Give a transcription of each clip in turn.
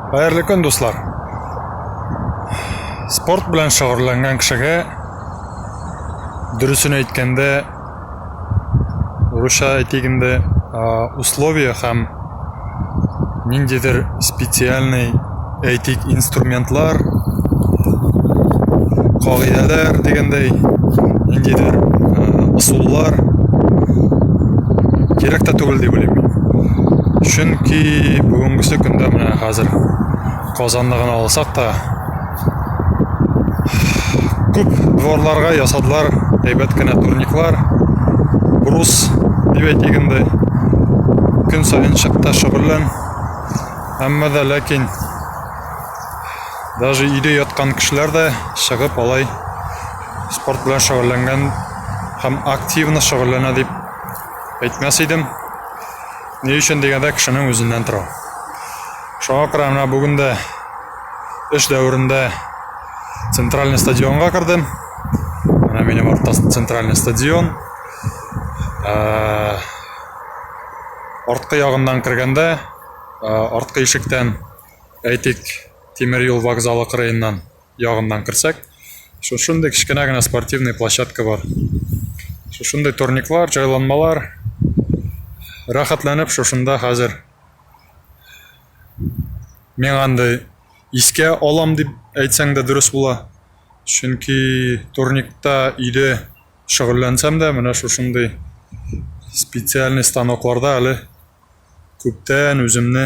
Хәерле көн, дуслар! Спорт белән шөгыльләнгән кешегә дөресен әйткәндә, урысча әйтик инде, условия һәм ниндидер специальный әйтик инструментлар, кагыйдәләр дигәндәй, ниндидер ысуллар кирәк тә түгел дип уйлыйм. Чөнки бүгенгесе көндә менә хәзер Казанны гына алсак та күп дворларга ясадылар әйбәт кенә турниклар, брус дип әйтик инде. Көн саен чык та шөгыльлән. Әмма да ләкин даже өйдә яткан кешеләр дә чыгып алай спорт белән шөгыльләнгән һәм активно шөгыльләнә дип Әйтмәс идем. Ни өчен дигәндә кешенең үзеннән тора. Шуңа күрә менә бүген дә эш дәверендә центральный стадионга кердем. Менә минем артта центральный стадион. Ә, арткы ягыннан кергәндә, арткы ишектән әйтик, тимер юл вокзалы кырыеннан ягыннан керсәк, шушындый кечкенә генә спортивный площадка бар. Шушындый турниклар, җайланмалар. Рәхәтләнеп шушында хәзер мин андый искә алам дип әйтсәң дә дөрес була. Чөнки турникта өйдә шөгыльләнсәм дә, менә шушындый специальный станокларда әле күптән үземне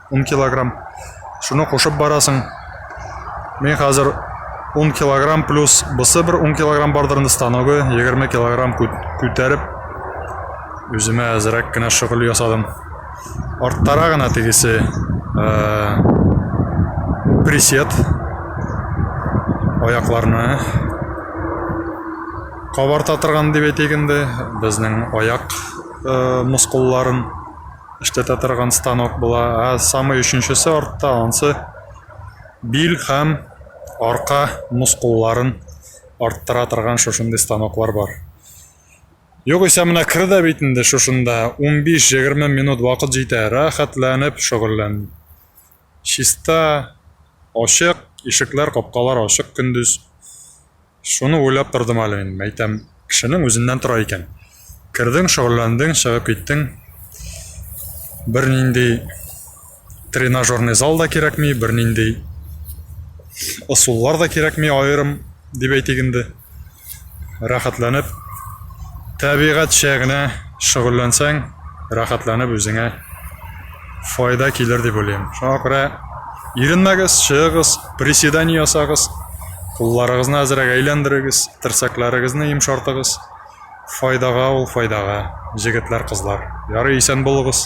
10 килограмм. Шуны кушып барасың. Мен хәзер 10 килограмм плюс бысы бер 10 килограмм бардыр инде станогы, 20 килограмм күтәреп үземә әзрәк кенә шөгыль ясадым. Арттара гына тегесе э, присед аякларны кабарта торган дип әйтик инде, безнең аяк э, мускулларын Эштә тә торган станок була. Ә самый өченчесе артта, ансы бил һәм арка мускулларын арттыра торган шушындый станоклар бар. Югыйсә менә кер дә бит инде шушында 15-20 минут вакыт җитә, рәхәтләнеп шөгыльлән. Чиста, ачык, ишекләр, капкалар ачык көндез. Шуны уйлап тордым әле мин, әйтәм, кешенең үзеннән тора икән. Кердең, шөгыльләндең, чыгып киттең. Бернинди тренажерный зал да кирәкми, бернинди ысуллар да кирәкми аерым, дип әйтик инде. Рәхәтләнеп, тәбигатьчә генә шөгыльләнсәң, рәхәтләнеп үзеңә файда килер дип уйлыйм. Шуңа күрә иренмәгез, чыгыгыз, приседание ясагыз, кулларыгызны әзрәк әйләндерегез, терсәкләрегезне йомшартыгыз. Файдага ул файдага, җегетләр, кызлар. Ярый, исән булыгыз.